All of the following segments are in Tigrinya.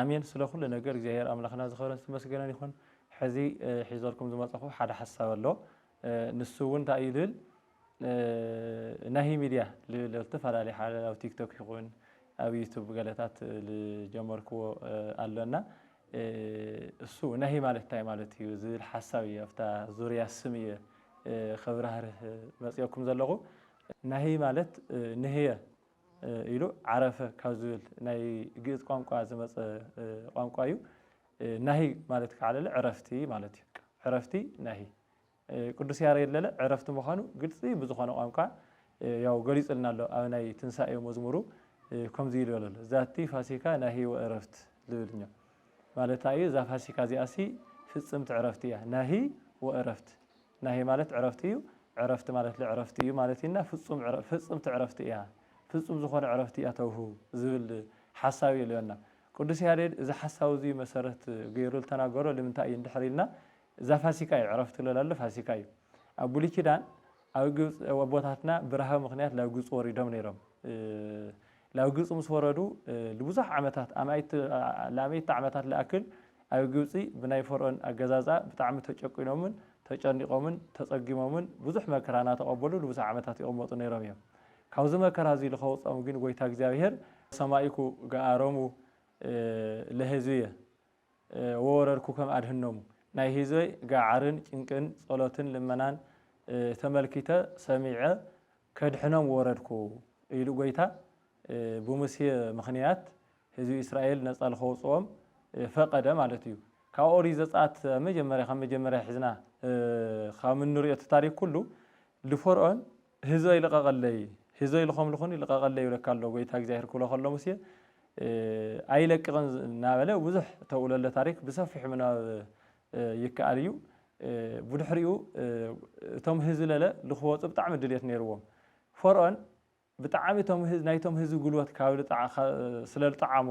ኣሜን ስለ ኩሉ ነገር እግዚኣብሔር ኣምላክና ዝከበረን ዝተመስገነን ይኩን ሕዚ ሒዘልኩም ዝመፀኩ ሓደ ሓሳብ ኣሎ ንሱ እውን እንታይ እዩ ልብል ናሂ ሚድያ ልብል ዝተፈላለየ ሓደ ኣብ ቲክቶክ ይኩን ኣብ ዩቱብ ገለታት ዝጀመርክዎ ኣሎ እና እሱ ናሂ ማለት እንታይ ማለት እዩ ዝብል ሓሳብ እዩ ኣብታ ዙርያ ስም እየ ከብራህርህ መፅኦኩም ዘለኩ ናሂ ማለት ንህየ ኢሉ ዓረፈ ካብ ዝብል ናይ ግእዝ ቋንቋ ዝመፀ ቋንቋ እዩ። ናሂ ማለት ከዓ ለለ ዕረፍቲ ማለት እዩ። ዕረፍቲ ናሂ ቅዱስ ያሬድ ለለ ዕረፍቲ ምዃኑ ግልፂ ብዝኾነ ቋንቋ ያው ገሊፁልና ኣሎ። ኣብ ናይ ትንሳኤ መዝሙሩ ከምዚ ኢሉ በለ ኣሎ ዛቲ ፋሲካ ናሂ ወእረፍት ዝብል እኛ ማለታ እዩ። እዛ ፋሲካ እዚኣሲ ፍፅምቲ ዕረፍቲ እያ ናሂ ወእረፍት። ናህይ ማለት ዕረፍቲ እዩ። ዕረፍቲ ማለት ልዕረፍቲ እዩ ማለት እዩና ፍጹም ዕረ ፍጽምቲ ዕረፍቲ እያ ፍጹም ዝኾነ ዕረፍቲ እያ ተውሁ ዝብል ሓሳብ እዩ ልዮና። ቅዱስ ያሬድ እዚ ሓሳብ እዙይ መሰረት ገይሩ ልተናገሮ ልምንታይ እዩ እንድሕር ኢልና እዛ ፋሲካ እዩ ዕረፍቲ ልብል ኣሎ ፋሲካ እዩ። ኣብ ብሉይ ኪዳን ኣብ ግብጺ ኣቦታትና ብራህዊ ምኽንያት ላብ ግብጺ ወሪዶም ነይሮም። ናብ ግብጺ ምስ ወረዱ ልብዙሕ ዓመታት ኣኣማኢት ዓመታት ልኣክል ኣብ ግብጺ ብናይ ፈርኦን ኣገዛዝኣ ብጣዕሚ ተጨቊኖምን ተጨኒቖምን ተጸጊሞምን ብዙሕ መከራ ናተቐበሉ ልብዙሕ ዓመታት ይቕመጡ ነይሮም እዮም። ካብዚ መከራ እዚ ልከውጽኦም ግን ጐይታ እግዚኣብሔር። ሰማይኩ ገኣሮሙ ለሕዝብየ ወወረድኩከም ኣድኅኖሙ ናይ ሕዝበይ ገዓርን ጭንቅን ጸሎትን ልመናን ተመልኪተ ሰሚዐ ከድኅኖም ወረድኩ ኢሉ ጐይታ ብሙሴ ምኽንያት ሕዝቢ እስራኤል ነጻ ልከውጽኦም ፈቀደ ማለት እዩ ካብ ኦሪት ዘጽኣት መጀመርያ ካብ መጀመርያ ሒዝና ካም እንርእዮ እቲ ታሪክ ኩሉ ልፈርኦን ህዝበይ ልቐቐለይ፣ ህዝበይ ልኾምልኹኒ ልቐቐለይ ይብለካ ኣሎ ጐይታ እግዚኣብሄር ክብሎ ከሎ ሙሴ ኣይለቅቕን እናበለ ብዙሕ እተውእለለ ታሪክ ብሰፊሑ ምንባብ ይከኣል እዩ። ብድሕሪኡ እቶም ህዝቢ ለለ ልክወፁ ብጣዕሚ ድልየት ነይርዎም። ፈርኦን ብጣዕሚ ናይቶም ህዝቢ ጉልበት ስለልጠዓሞ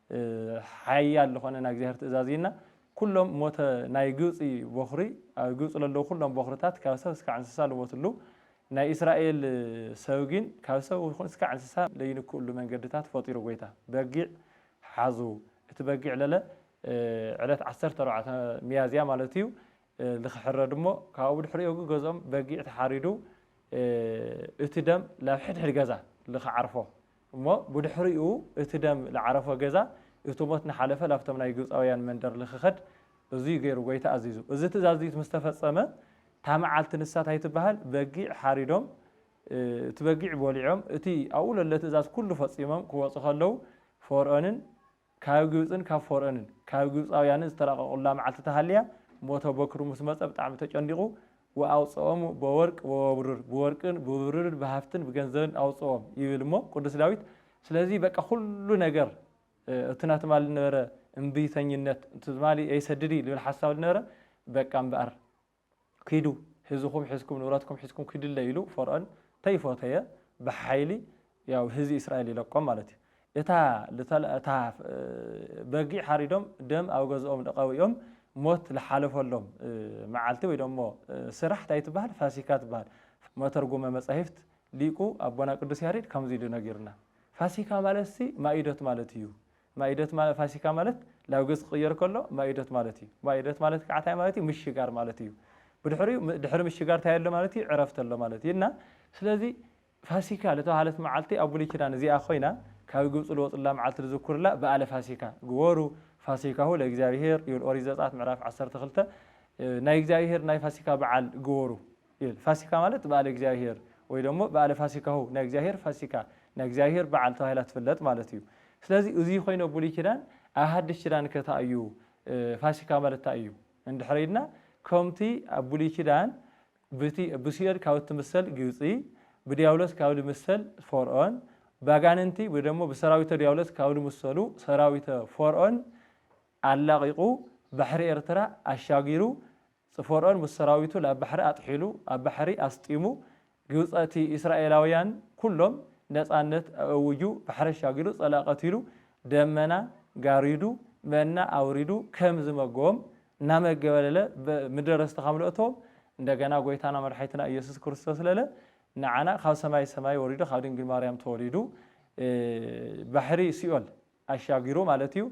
ሓያል ልኾነ ናይ እግዚኣብሔር ትእዛዝ እይና ኩሎም ሞተ ናይ ግብፂ ቦኽሪ ኣብ ግብፂ ለለዉ ኩሎም ቦኽርታት ካብ ሰብ እስካዕ እንስሳ ልሞቱ ኣልዉ ናይ እስራኤል ሰብ ግን ካብ ሰብ ይኹን እስካዕ እንስሳ ለይንክኡሉ መንገድታት ፈጢሩ ጎይታ በጊዕ ሓዙ እቲ በጊዕ ለለ ዕለት ዓሰርተ ኣርባዕተ ሚያዝያ ማለት እዩ ልክሕረድ እሞ ካብኡ ብድሕሪኡ ግ ገዝኦም በጊዕ ተሓሪዱ እቲ ደም ላብ ሕድሕድ ገዛ ልክዓርፎ እሞ ብድሕሪኡ እቲ ደም ልዓረፎ ገዛ እቲ ሞት ንሓለፈ ላብቶም ናይ ግብጻውያን መንደር ልክኸድ እዙይ ገይሩ ጎይታ ኣዚዙ። እዚ ትእዛዝ እዙይ ምስ ተፈጸመ እታ መዓልቲ ንሳ ታይ ትበሃል በጊዕ ሓሪዶም እቲ በጊዕ በሊዖም እቲ ኣብኡ ለሎ ትእዛዝ ኩሉ ፈጺሞም ክወጹ ከለዉ ፈርኦንን ካብ ግብጽን ካብ ፎርኦንን ካብ ግብጻውያንን ዝተራቐቑላ መዓልቲ ተሃልያ፣ ሞተ ቦክሩ ምስ መጸ ብጣዕሚ ተጨኒቑ፣ ወኣውጽኦሙ ቦወርቅ ወወብሩር፣ ብወርቅን ብብሩርን ብሃፍትን ብገንዘብን ኣውጽኦም ይብል እሞ ቅዱስ ዳዊት። ስለዚ በቃ ኩሉ ነገር እቲ ናብ ትማሊ ዝነበረ እምቢተኝነት፣ ንትማሊ ኣይሰድድይ ዝብል ሓሳብ ዝነበረ በቃ እምበኣር፣ ኪዱ ህዝኹም ሒዝኩም ንብረትኩም ሒዝኩም ኪዱለይ ኢሉ ፈርኦን ተይፎተየ ብሓይሊ ያው ህዚ እስራኤል ይለቆም ማለት እዩ እታ ልተል እታ በጊዕ ሓሪዶም ደም ኣብ ገዝኦም ልቀብኦም ሞት ልሓለፈሎም መዓልቲ ወይ ደሞ ስራሕ ታይ ትበሃል ፋሲካ ትበሃል መተርጉመ መጻሂፍት ሊቁ ኣቦና ቅዱስ ያሬድ ከምዚ ኢሉ ነጊሩና ፋሲካ ማለትሲ ማኢዶት ማለት እዩ ማኢዶት ማለት ፋሲካ ማለት ላብ ገጽ ክቕየር ከሎ ማኢዶት ማለት እዩ። ማኢዶት ማለት ከኣ ታይ ማለት እዩ ምሽጋር ማለት እዩ። ብድሕሪኡ ድሕሪ ምሽጋር ታይ ኣሎ ማለት እዩ ዕረፍቲ ኣሎ ማለት እዩ እና ስለዚ ፋሲካ ልተባህለት መዓልቲ ኣብ ብሉይ ኪዳን እዚኣ ኮይና ካብ ግብጺ ልወጹላ መዓልቲ ልዝኩርላ በኣለ ፋሲካ ግበሩ ፋሲካሁ ለእግዚኣብሄር ይብል ኦሪት ዘጽኣት ምዕራፍ ዓሰርተ ክልተ ናይ እግዚኣብሄር ናይ ፋሲካ በዓል ግበሩ ይብል። ፋሲካ ማለት በዓለ እግዚኣብሔር ወይ ደሞ በዓለ ፋሲካሁ ናይ እግዚኣብሔር ፋሲካ ናይ እግዚኣብሔር በዓል ተባሂላ ትፍለጥ ማለት እዩ። ስለዚ እዙይ ኾይኑ ኣብ ብሉይ ኪዳን ኣብ ሓድሽ ኪዳን ከ ታይ እዩ ፋሲካ ማለት ታይ እዩ እንድሕር ኢልና ከምቲ ኣብ ብሉይ ኪዳን ብቲ ብሲኦል ካብ እትምሰል ግብፂ ብዲያብሎስ ካብ ልምሰል ፎርኦን ባጋንንቲ ወይ ደሞ ብሰራዊተ ዲያብሎስ ካብ ልምሰሉ ሰራዊተ ፎርኦን ኣላቒቑ ባሕሪ ኤርትራ ኣሻጊሩ ጽፎርኦን ምስ ሰራዊቱ ላብ ባሕሪ ኣጥሒሉ ኣብ ባሕሪ ኣስጢሙ ግብጸቲ ኢስራኤላውያን ኩሎም ነጻነት ኣእውጁ ባሕሪ ኣሻጊሩ ጸላእ ቀቲሉ ደመና ጋሪዱ መና ኣውሪዱ ከም ዝመገቦም እናመገበለለ ምድረ ርስቲ ከም ለእቶም እንደገና ጎይታና መድሓይትና ኢየሱስ ክርስቶስለለ ንዓና ካብ ሰማይ ሰማይ ወሪዱ ካብ ድንግል ማርያም ተወሊዱ ባሕሪ ሲኦል ኣሻጊሩ ማለት እዩ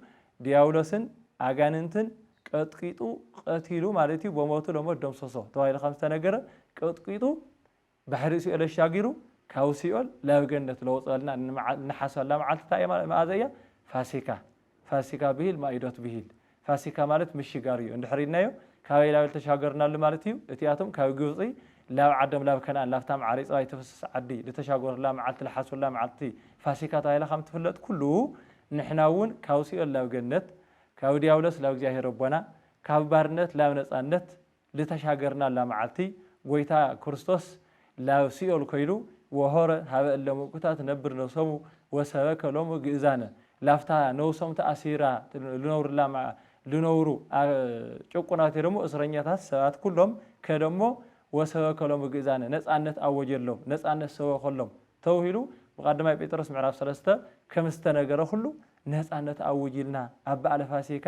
ድያብሎስን ኣጋንንትን ቀጥቂጡ ቀቲሉ ማለት እዩ በሞቱ ለሞት ደምሰሶ ተባሂሉ ከም ዝተነገረ ቀጥቂጡ ባሕሪ ሲኦል ኣሻጊሩ ካብ ሲኦል ላብ ገነት ለውጸልና ንሓስበላ መዓልቲ እንታይ እያ መኣዘ እያ ፋሲካ ፋሲካ ብሂል ማኢዶት ብሂል ፋሲካ ማለት ምሽጋር እዩ እንድሕር ኢልናዮ ካበይ ላበል ተሻገርናሉ ማለት እዩ እቲኣቶም ካብ ግብጺ ላብ ዓዶም ላብ ከንኣን ላብታ መዓር ይጽባይ ትፍስስ ዓዲ ልተሻገሩላ መዓልቲ ልሓስቡላ መዓልቲ ፋሲካ ተባሂላ ከም ትፍለጥ ኩሉ ንሕና እውን ካብ ሲኦል ላብ ገነት ካብ ድያብሎስ ላብ እግዚኣብሄር ኣቦና ካብ ባርነት ላብ ነጻነት ልተሻገርናላ መዓልቲ ጐይታ ክርስቶስ ላብ ሲኦል ኰይዱ ወሖረ ሀበ እለ ምእኩታት ነብር ነብሶሙ ወሰበከ ሎሙ ግእዛነ ላፍታ ነብሶም ተኣሲራ ልነብርላ ልነብሩ ጭቁናት ወይ ደሞ እስረኛታት ሰባት ኩሎም ከደ እሞ ወሰበከ ሎሙ ግእዛነ ነጻነት ኣወጀሎም ነጻነት ሰበኸሎም ተብሂሉ ብቃልደማይ ጴጥሮስ ምዕራፍ ሰለስተ ከምዝተነገረ ኩሉ ነጻነት ኣውጅልና ኣብ በዓለ ፋሲካ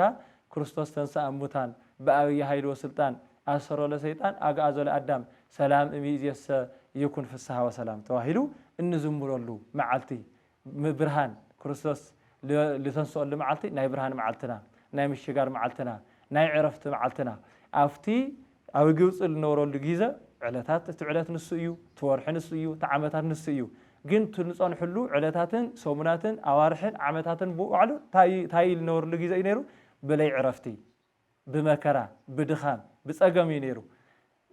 ክርስቶስ ተንሥኣ እሙታን በኣብይ ኃይል ወሥልጣን ኣሰሮ ለሰይጣን ኣግኣዞ ለኣዳም ሰላም እምይእዜሰ ይኩን ፍሥሓ ወሰላም ተባሂሉ እንዝምረሉ መዓልቲ ብርሃን ክርስቶስ ልተንሥኦሉ መዓልቲ ናይ ብርሃን መዓልትና ናይ ምሽጋር መዓልትና ናይ ዕረፍቲ መዓልትና ኣብቲ ኣብ ግብጺ ልነበረሉ ጊዘ ዕለታት እቲ ዕለት ንሱ እዩ እቲ ወርሒ ንሱ እዩ እቲ ዓመታት ንሱ እዩ ግን እቲ ልጸንሕሉ ዕለታትን ሰሙናትን ኣዋርሕን ዓመታትን ብባዕሉ ታይ እዩ ልነበረሉ ጊዘ እዩ ነይሩ ብለይ ዕረፍቲ ብመከራ ብድኻም ብጸገም እዩ ነይሩ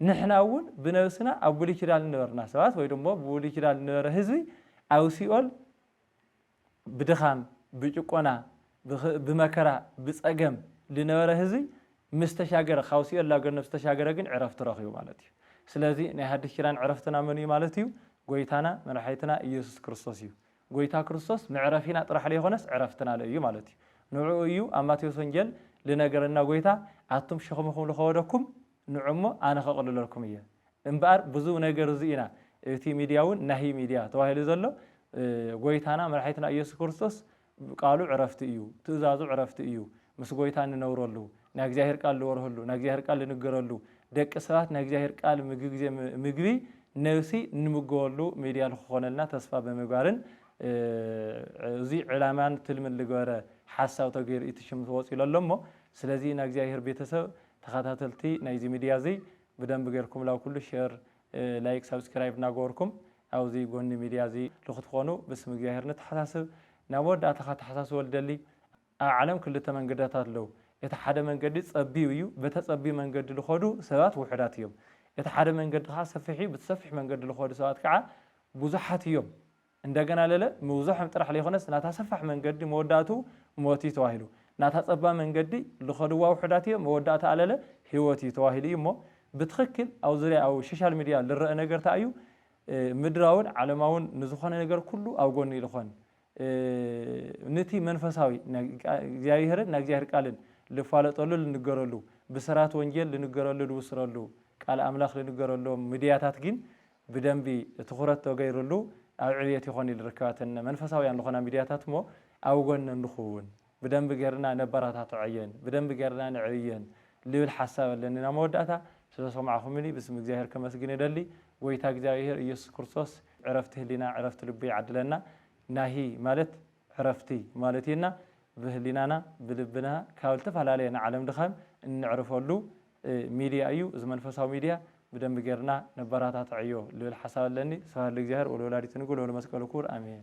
ንሕና እውን ብነብስና ኣብ ብሉይ ኪዳን ልነበርና ሰባት ወይ ደሞ ብብሉይ ኪዳን ልነበረ ህዝቢ ኣብ ሲኦል ብድኻም ብጭቆና ብመከራ ብጸገም ልነበረ ህዝቢ ምስ ተሻገረ ካብ ሲኦል ናብ ገነት ምስ ተሻገረ ግን ዕረፍቲ ረኺቡ ማለት እዩ። ስለዚ ናይ ሓድሽ ኪዳን ዕረፍትና መን እዩ ማለት እዩ? ጎይታና መድሓኒትና እየሱስ ክርስቶስ እዩ። ጎይታ ክርስቶስ መዕረፊና ጥራሕ ለይኮነስ ዕረፍትና ለ እዩ ማለት እዩ። ንዕኡ እዩ ኣብ ማቴዎስ ወንጌል ልነገረና ጎይታ ኣቱም ሸኽምኹም ልኸወደኩም ንዑ እሞ ኣነ ከቕልለልኩም እየ እምበኣር ብዙ ነገር እዙይ ኢና እቲ ሚድያ እውን ናሂ ሚድያ ተባሂሉ ዘሎ ጎይታና መድሓኒትና እየሱስ ክርስቶስ ቃሉ ዕረፍቲ እዩ ትእዛዙ ዕረፍቲ እዩ ምስ ጎይታ እንነብረሉ ናይ እግዚኣብሔር ቃል ልወርህሉ ናይ እግዚኣብሔር ቃል ልንገረሉ ደቂ ሰባት ናይ እግዚኣብሔር ቃል ምግቢ ግዜ ምግቢ ነብሲ እንምገበሉ ሚድያ ልክኾነልና ተስፋ ብምግባርን እዙይ ዕላማን ትልምን ልገበረ ሓሳብ ተገይሩ እዩ እቲ ሽም ተወፂኡ ለሎ እሞ ስለዚ ናይ እግዚኣብሔር ቤተሰብ ተኻታተልቲ ናይዚ ሚድያ እዚ ብደንቢ ገርኩም ላብ ኩሉ ሸር ላይክ ሳብስኪራይብ እናገበርኩም ኣብዚ ጎኒ ሚድያ እዚ ልክትኾኑ ብስም እግዚኣብሔር ንተሓሳስብ ናብ መወዳእታ ካተሓሳስቦ ልደሊ ኣብ ዓለም ክልተ መንገዳታት ኣለው እቲ ሓደ መንገዲ ፀቢብ እዩ በተ ፀቢብ መንገዲ ልኸዱ ሰባት ውሑዳት እዮም እቲ ሓደ መንገዲ ከዓ ሰፊሕ እዩ ብቲ ሰፊሕ መንገዲ ልኸዱ ሰባት ከዓ ብዙሓት እዮም እንደገና ለለ ምብዞሖም ጥራሕ ለይኮነስ ናታ ሰፋሕ መንገዲ መወዳእትኡ ሞት እዩ ተባሂሉ። ናታ ጸባብ መንገዲ ልኸድዋ ውሑዳት እዮም መወዳእትኣ ለለ ህይወት እዩ ተባሂሉ እዩ እሞ ብትኽክል ኣብ ዙርያ ኣብ ሸሻል ሚድያ ልረእ ነገር ታይ እዩ ምድራውን ዓለማውን ንዝኾነ ነገር ኩሉ ኣብ ጎኒ ልኾን ንቲ መንፈሳዊ እግዚኣብሔርን ናይ እግዚኣብሔር ቃልን ልፋለጠሉ ልንገረሉ ብስራት ወንጌል ልንገረሉ ልብስረሉ ቃል ኣምላኽ ልንገረሎም ምድያታት ጊን ብደንቢ ትኹረት ተገይሩሉ ኣብ ዕብየት ይኾን ኢሉ ርክባተን መንፈሳውያን ዝኾና ሚድያታት እሞ ኣብ ጎነን ንኹውን ብደንቢ ገርና ነበራታትዖየን ብደንቢ ገርና ነዕብየን ልብል ሓሳብ ኣለኒ ናብ መወዳእታ ስለሰማዕኹምኒ ብስም እግዚኣብሔር ከመስግን እደሊ ጎይታ እግዚኣብሔር እየሱስ ክርስቶስ ዕረፍቲ ህሊና ዕረፍቲ ልቢ ይዓድለና ናሂ ማለት ዕረፍቲ ማለት እዩና ብህሊናና ብልብና ካብ ልተፈላለየ ንዓለም ድኻም እንዕርፈሉ ሚድያ እዩ እዚ መንፈሳዊ ሚድያ ብደንቢ ገርና ነበራታትዐዮ ልብል ሓሳብ ኣለኒ ስብሃት ለእግዚኣብሔር ወለወላዲቱ ንግል ወለመስቀሉ ክቡር ኣሜን።